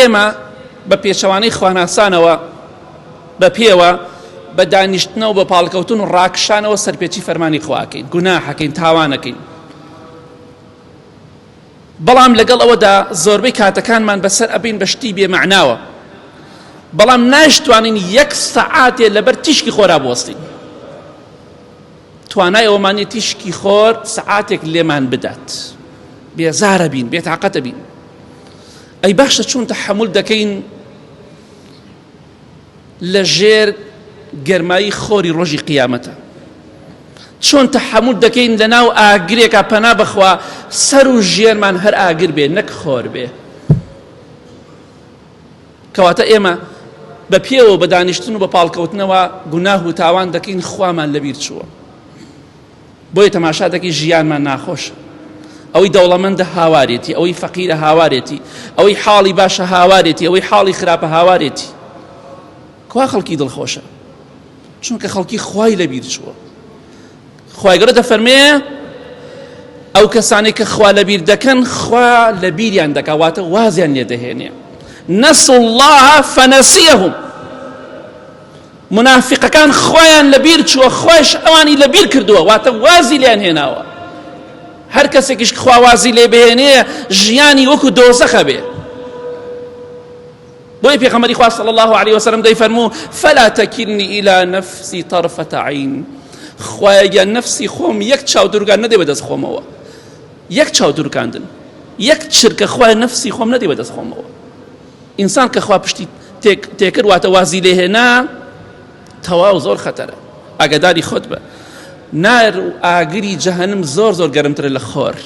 ئێمە بە پێچەوانەی خواناسانەوە بە پێوە بە دانیشتنەوە بە پاڵکەوتن و ڕاکشانەوە سەرپێچی فەرمانی خواکەین گوناحەکەین تاوانەکەین بەڵام لەگەڵ ئەوەدا زۆربەی کاتەکانمان بەسەر ئەبین بە شتی بێمەعناوە بەڵام ناشتوانین یەک سەعاتێ لەبەر تیشکی خۆرا بوەستین توانای ئەومانی تیشکی خۆر سەعاتێک لێمان بدات بێزارە بین بێتاقەتە بین ئەی باشە چۆن تەحەمول دەکەین لە ژێر گەرمایی خۆری ڕۆژی قیامەتە چۆن تەحەمول دەکەین لە ناو ئاگرێکە پەنا بخوا سەر و ژێرمان هەر ئاگر بێ نەک خۆر بێ کەواتە ئێمە بە پێوە بە دانیشتن و بە پاڵکەوتنەوە گوناه و تاوان دەکەین خوامان لەبیر چووە بۆیە تەماشا دەکەی ژیانمان ناخۆشە ئەوەی دەوڵەمەندە هاوارێتی ئەوەی فەقیرە هاوارێتی ئەوەی حاڵی باشە هاوارێتی ئەوەی حاڵی خراپە هاوارێتی کوا خەڵکی دڵخۆشە چونکە خەڵکی خوای لەبیر چووە خوای گەڕە دەفەرمێ ئەو کەسانی کە خوا لەبیر دەکەن خوا لە بیریان دەکەواتە وازیان لێ دەهێنێ نەسڵ الله فەنەسیەهم مونافیقەکان خۆیان لەبیر چووە خۆش ئەوانی لەبیر کردووە واتە وازی لێن هێناوە هەر کەسێکیش خوا وازی لێ بهێنێ ژیانی وەکو دۆزەخە بێ بۆی پێخەمەری خوا صلی الله عليه وسلم دەیفەرموو فلا تکلنی الى نفسی طرفة عین خوایەگیان نفسی خۆم یەک چاو دورگان نەدێ بەدەست خۆمەوە یەک چاو دورکاندن یەک چرکە خوای نفسی خۆم نەدێ بەدەست خۆمەوە ئینسان کە خوا پشتی تێک تێکرد واتە وازی لێ هێنا تەواو زۆر خەتەرە ئاگاداری خۆت بە نار و ئاگری جەهنم زۆر زۆر گەرمترە لە خۆر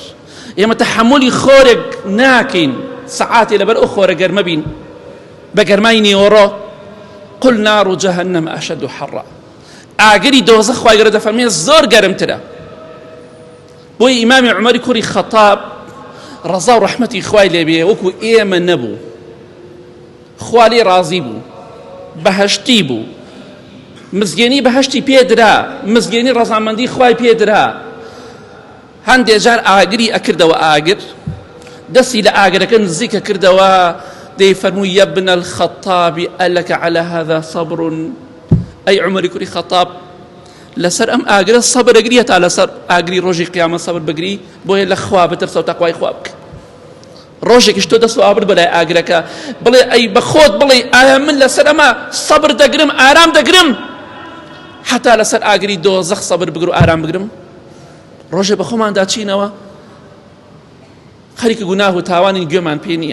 ئێمە تەحملی خۆرێک ناکەین سەعاتێ لەبەر ئەو خۆرە گەرمە بین بە گەرمای نیوەڕۆ قل نار و جەهنم ئەشد و حەڕە ئاگری دۆزە خوای گەرە دەفەرمێ زۆر گەرمترە بۆیە ئیمامی عومەری کوڕی خەتاب ڕەزا و ڕەحمەتی خوای لێبێ وەکو ئێمە نەبوو خوالی ڕازی بوو بەهشتی بوو مزگێنی بەهشتی پێدرا مزگێنی ڕەزامەندی خوای پێدرا هەندێ جار ئاگری ئەکردەوە ئاگر دەستی لە ئاگرەکە نزیکە کردەوە دەی فەرموو یەبن الخەتابی ئەلەکە على هذا صبر ئەی عمری کوری خەتاب لەسەر ئەم ئاگرە سەبر ئەگریە تا لەسەر ئاگری ڕۆژی قیامە سەبر بگری بۆیە لە خوا بترسە و تەخوای خوا بکە ڕۆژێکیش تۆ دەست و ئابر بەلای ئاگرەکە بڵێ ئەی بەخۆت بڵێ ئایا من لەسەر ئەمە سەبر دەگرم ئارام دەگرم حتا لەسەر ئاگری دۆ زەخ سەبر بگر و ئارام بگرم ڕۆژێ بە خۆماندا چینەوە خەریکە گوناه و تاوانی گوێمان پێ نییە